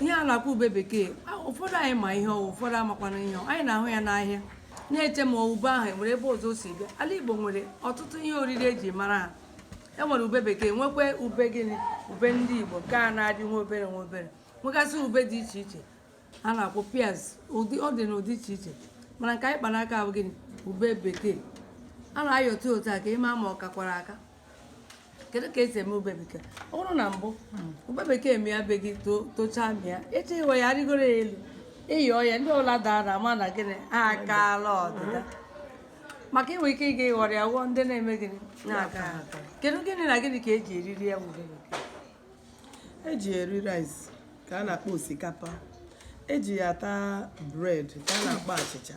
ihe a na-akpọ ube bekee ụfọdụ anyị ma ihe ọ wụ ụfọdụ amakwana ihe anyị na-ahụ ya n'ahịa na-eche ma ube ahụ enwere ebe ọzọ o si bịa ala igbo nwere ọtụtụ ihe oriri eji mara ha enwere ube bekee nwekwa ube gịnị ube ndị igbo nke a na-adị nwa obere nwa obere nwegasị ube dị iche iche a na-akpọ pears ọ dị n'ụdị iche iche mana nke anyị kpa n'aka bụ gịnị ube bekee a na-ayọta otu a ka ịma ma ọ kakwara aka kedu ka esi eme ube bekee ọ bụrụ na mbụ ube bekee mịa be gị to- tochaa mịa eche iwe ya arịgoro ya elu ịyọ ya ndị ọla dara ama na gịnị ha akaala ọdịda maka inwe ike ịga ịghọrọ ya ghọọ ndị na-eme gịnị na-akaha. kedu gịnị na gịnị ka eji eriri ya bụ ube bekee eji ya eri rice ka a na-akpọ osikapa eji ya ata bread ka a na-akpọ achịcha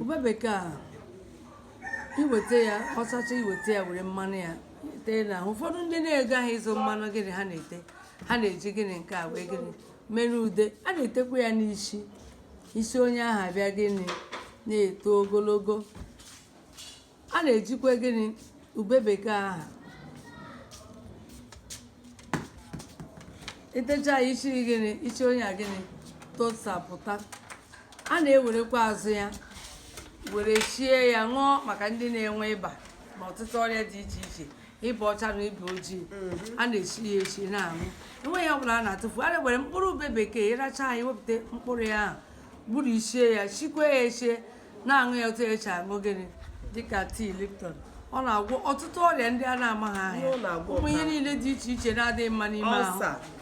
ube bekee a iweta ya ọ sacha iweta ya were mmanụ ya tee n'ahụ ụfọdụ ndị na-ego ahụ ịzụ mmanụ gịnị ha na-ete ha na-eji gịnị nke a wee gịnị mere ude a na-etekwa ya n'isi isi onye ahụ abịa gịnị na-eto ogologo a na-ejikwa gịnị ube bekee aha itecha ya n'isi gịnị isi onye a gịnị tosapụta a na-ewerekwa azụ ya were sie ya ṅụọ maka ndị na-enwe ịba na ọtụtụ ọrịa dị iche iche ịba ọcha na ịba ojii mhm. a na-esi ya esi na-aṅụ enweghị ihe ọ bụla a na-atụfu a na-ewere mkpụrụ ube bekee ịracha ya wepụta mkpụrụ ya ahụ gburie sie ya sikwaa ya esi na-aṅụ ya otu esi aṅụ gịnị dịka tea lipton ọ na-agwọ ọtụtụ ọrịa ndị a na-amaghị aha ya ụmụ ihe niile dị iche iche na-adịghị mma n'ime ahụ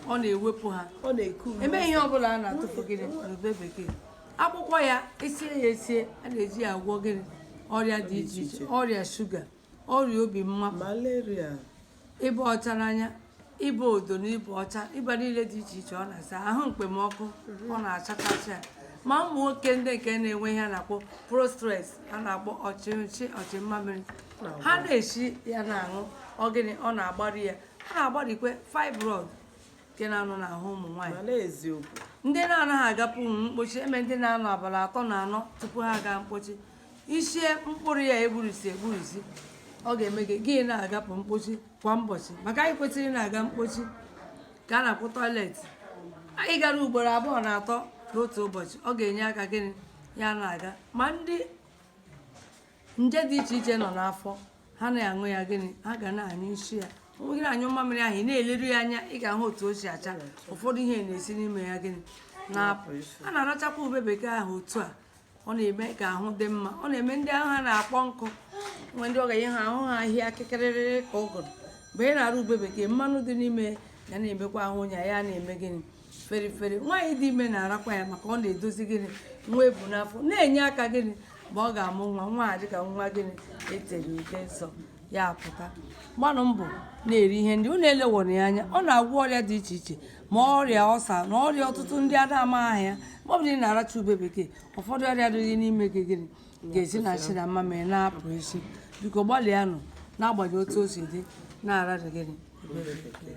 ọ na-ewepụ ha enweghị ihe ọ bụla a na-atụfu gịnị n'ube bekee akwụkwọ ya esie ya esie a na-eji ya agwọ gịnị ọrịa dị iche iche ọrịa shuga ọrịa obi mmapụ malaria ịba ọchara anya ịba odo na ịba ọcha ịba niile dị iche iche ọ na-asa ahụ mkpemọkụ ọ na-achakasị ya ma ụmụ nwoke ndị nke na-enwe ihe a na-akpọ prostate a na-akpọ ọchịchị ọchị mmamịrị ha na-esi ya na-aṅụ ọ gịnị ọ na-agbari ya ha na-agbarikwe fibroid nke na-anọ n'ahụ ụmụ nwaanyị mana eziokwu ndị na-anaghị agapụnwu mkpochi enwere ndị na-anọ abalị atọ na anọ tupu ha aga mkpochi i sie mkpụrụ ya egburisi egburisi ọ ga-eme gị gị na-agapụ mkpochi kwa ụbọchị maka anyị kwesịrị na-aga mkpochi ka a na-akpọ toilet anyị gara ugboro abụọ na atọ n'otu ụbọchị ọ ga-enye aka gịnị ya na-aga ma ndị nje dị iche iche nọ n'afọ ha na-aṅụ ya gịnị ha ga na-anyụsị ya onwe gị na-anyụ mmamịrị ahụ ị na-eleru ya anya ị ga-ahụ otu o si acha ụfọdụ ihe na-esi n'ime ya gịnị na-apụ a na-arachakwa ube bekee ahụ otu a ọ na-eme ka ahụ dị mma ọ na-eme ndị ahụ ha na-akpọ nkụ nwe ndị ọ ga-enye ha ahụ ha ahịa akịkịrịrịrị ka ụgụrụ mgbe ị na-ara ube bekee mmanụ dị n'ime ya na-emekwa ahụ onye ya na-eme gịnị feri feri nwaanyị dị ime na-arakwa ya maka ọ na-edozi gịnị nwa e bu n'afọ na-enye aka gịnị mgbe ọ ga-amụ nwa nwa adị ka nwa gịnị e tere ude nsọ ya apụta gbanụ mbọ na-eri ihe ndị unu eleghara ya anya ọ na-agwọ ọrịa dị iche iche ma ọrịa ulcer na ọrịa ọtụtụ ndị ada ama aha ya ma ọ bụrụ na ị na-aracha ube bekee ụfọdụ ọrịa dịrị n'ime gị gịnị ga-esi na nsị na mamịrị na-apụ ezi biko gbalịanụ n'agbanyeghị otu o si dị na-ararị gịnị ube bekee